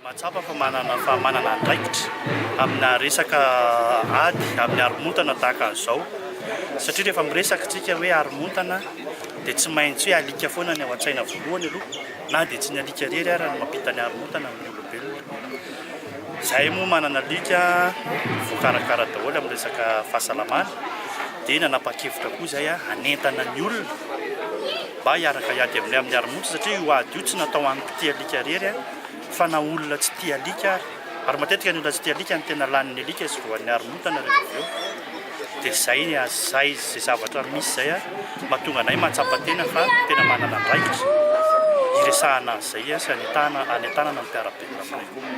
Mahatsapa fa manana fa manana andraikitra amina resaka ady amin'ny haromontana tahaka an'izao satria rehefa miresaka antsika hoe haromontana dia tsy maintsy hoe alika foana ny ao an-tsaina voalohany aloha na dia tsy ny alika irery ary no mampita ny haromontana amin'ny olombelona. Izahay moa manana alika voakarakara daholo amin'ny resaka fahasalamana dia nanapa-kevitra koa izahay hanentana ny olona mba hiaraka hiady aminay amin'ny arimonia satria io ady io tsy natao ho an'ny mpitia alika irery fa na olona tsy tia alika ary. Ary matetika ny olona tsy tia alika no tena lanin'ny alika izy voan'ny haromontana rehefa avy eo. Dia izay ny azy, izay izay zavatra misy izay mahatonga anay mahatsapa tena fa tena manana andraikitra hiresahana an'izay sy hanentanana ny mpiara-belona.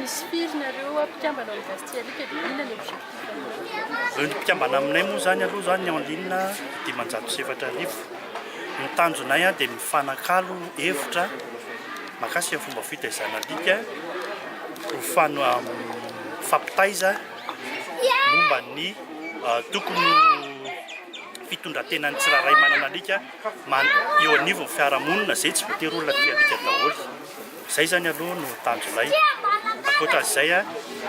Misy firy nareo mpikambana ao University Alika dia inona ny objectif anareo? Ireo ny mpikambana aminay moa izany aloha izany ny en ligne dimanjato sy efatra arivo. Ny tanjonay dia mifanakalo hevitra mahakasika ny fomba fitaizana alika ho fano mifampitaiza momba ny tokony ho fitondran-tenan'ny tsirairay manana alika eo anivon'ny fiarahamonina izay tsy voatery olona tia alika daholo. Izay izany aloha no tanjonay. Ankoatra izay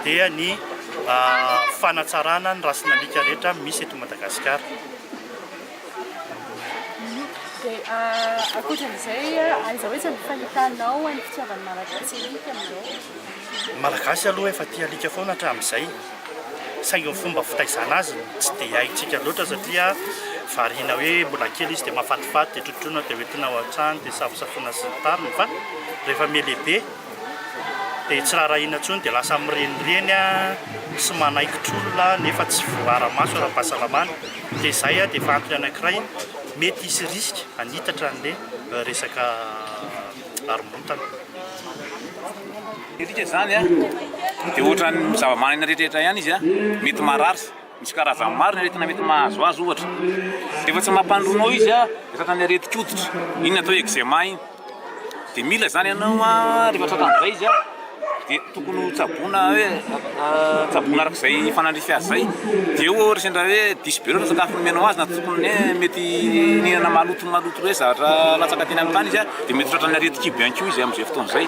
dia ny fanatsarana ny rasin'alika rehetra misy eto Madagasikara. Ankoatra izay, aiza ho aiza no fahitanao ny fitiavan'ny Malagasy alika amin'izao? Ny Malagasy aloha efa tia alika foana hatramin'izay. saingy ny fomba fitaizana azy no tsy dia haintsika loatra satria variana hoe mbola kely izy dia mahafatifaty dia trotroina dia hoentina ao an-trano dia safosafoina sy ny tariny fa rehefa mihalehibe dia tsy raharahiana intsony dia lasa mirenireny sy manaikitra olona nefa tsy voara-maso ara-pahasalamana dia izay dia efa antony anankiray mety hisy risque hanitatra an'ilay resaka haromontana Midika izany an, dia ohatran'ny zavamanana rehetrarehetra ihany izy an, mety marary, misy karazany maro ny aretina mety mahazo azy ohatra, rehefa tsy mampandroana ao izy an, dia tratran'ny aretin-koditra, iny ny atao eczema iny, dia mila izany ianao an, rehefa tratran'izay izy an, dia tokony ho tsaboina hoe tsaboina araka izay fanandrify azy izay, dia eo ohatra sendra hoe diso be loatra ny sakafo nomenao azy na tokony hoe mety nihinana maloto maloto hoe zavatra latsaka teny amin'ny tany izy an, dia mety ho tratran'ny aretin-kibo ihany koa izy amin'izay fotoana izay.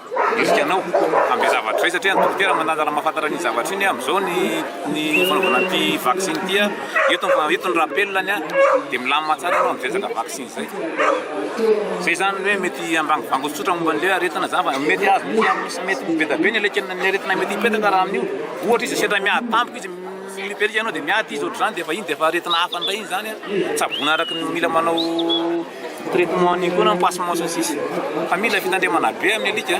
Hetsika anao hanome zavatra izay satria ny dokotera mandanja raha mahafantatra an'iny zavatra iny amin'izao ny ny fanaovana an'ity vaksiny ity a, eto ny eto ny rappel-ny a, dia milamina tsara ianao amin'izay resaka vaksiny izay. Izay izany ny hoe mety hambangobango tsotsotra momba an'ilay hoe aretina izany fa mety hahazo mety hahazo misy mety ho be dia be ny alekena ny aretina mety hipetaka raha amin'io. Ohatra izy sendra miady tampoka izy mi-hyperika ianao dia miady izy ohatr'izany dia efa iny dia efa aretina hafa indray iny izany a, tsaboina araka ny mila manao. Traitement an'iny koa na ny pansement sy ny sisa fa mila fitandremana be amin'ny alika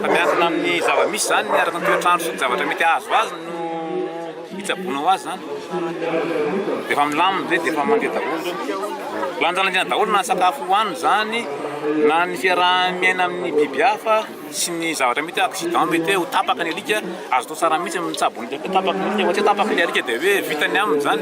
fa miankina amin'ny zava-misy izany araka ny toetr'andro sy ny zavatra mety hahazo azy no hitsaboana ho azy izany rehefa milamina dia efa mandeha daholo lanjalanjaina daholo na ny sakafo hohaniny izany na ny fiaraha-miaina amin'ny biby hafa sy ny zavatra mety accident mety hoe ho tapaka ny alika azo atao tsara mihitsy ny mitsabo ny tapaka ny alika fa tsy hoe tapaka ny alika dia hoe vita ny aminy izany